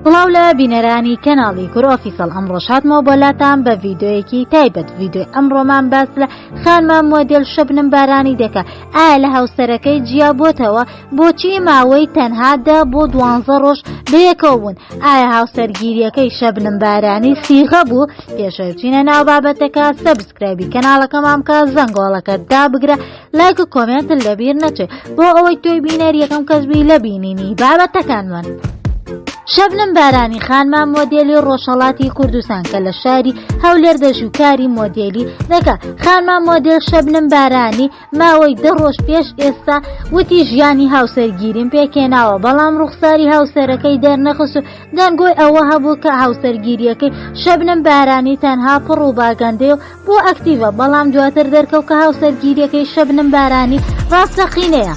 سڵاو لە بینەرانی کەناڵی کورە ئۆفیسەڵ ئەمڕۆ شاتمەوە بۆ لاتان بە ڤیددیوەیەکی تایبەت ڤیددیوی ئەمڕۆمان باس لە خانمە مۆدێل شەبنم بارانی دەکە ئایا لە هاوسەرەکەی جیا بۆتەوە بۆچی ماوەی تەنها دە بۆ دوانزە ڕۆژ بەیەکەوە بوون ئایا هاوسەرگیریەکەی شەبنم بارانی سیغە بوو پێشەوچینە ناو بابەتەکە سەبسکرایبی کەناڵەکەمامکە زەنگۆڵەکە دابگرە لایک و کۆمێنتت لەبیر نەچێت بۆ ئەوەی تۆی بینەر یەکەم کەس بووی لە بینینی بابەتەکانمان. شەبنم بارانی خانما مۆدێلی ڕۆژهڵاتی کوردستان کە لە شاری هەولێر دەژوکاری مۆدێلی دەکە خانما مۆدێل شەبنم بارانی ماوەی دە ڕۆژ پێش ئێستا وتی ژیانی هاوسەرگیریم پێکێناوە بەڵام ڕوخساری هاوسەرەکەی دەرنەخست و دەنگۆی ئەوە هەبوو کە هاوسەرگیریەکەی شەبنم بارانی تەنها پڕ و باگەندێ و بۆ ئەکتیڤە بەڵام دواتر دەرکەوت کە هاوسەرگیریەکەی شەبنم بارانی ڕاستەقینەیە.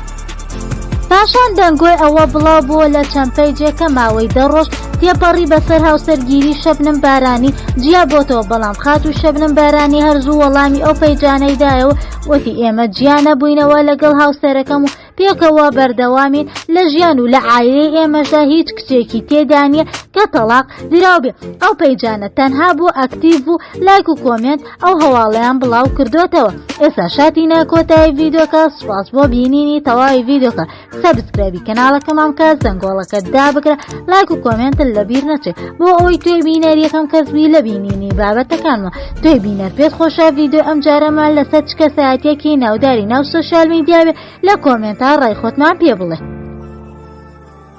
پاشان دەنگۆی ئەوە بڵاو بووە لە چەند پەیجێک کە ماوەی دە ڕۆژ تێپەڕی بەسەر هاوسەرگیری شەبنم بارانی جیا بۆتەوە بەڵام خاتوو شەبنم بارانی هەر زوو وەڵامی ئەو پەیجانەی دایەوە وتی ئێمە جیا نەبووینەوە لەگەڵ هاوسەرەکەم و پێکەوە بەردەوامین لە ژیان و لە ئایرەی ئێمەشدا هیچ کچێکی تێدا نییە کە تەلاق دراوبێ ئەو پەیجانە تەنها بۆ ئەکتیڤ و لایک و کۆمێنت ئەو هەواڵیان بڵاو کردوتەوە ئێستا شاتی ناکۆتایی ڤیددیوکە سوپاس بۆ بینینی تەواوی ڤیددیوکە سەبسکرابی کەناڵەکەمان بکە زەنگۆڵەکە دابگرە لایک و کۆمێنتل لەبیر نەچێت بۆ ئەوی توێ بینەر یەکەم کەسبی لە بینینی بابەتەکانمە تۆی بینەر پێت خۆشە ڤیدۆ ئەم جارەمان لەسەر چ کەسایەتیەکی ناوداری ناو سۆشیال میدیاوێ لە کۆمێنتا ڕای خۆتمان پێ بڵێ.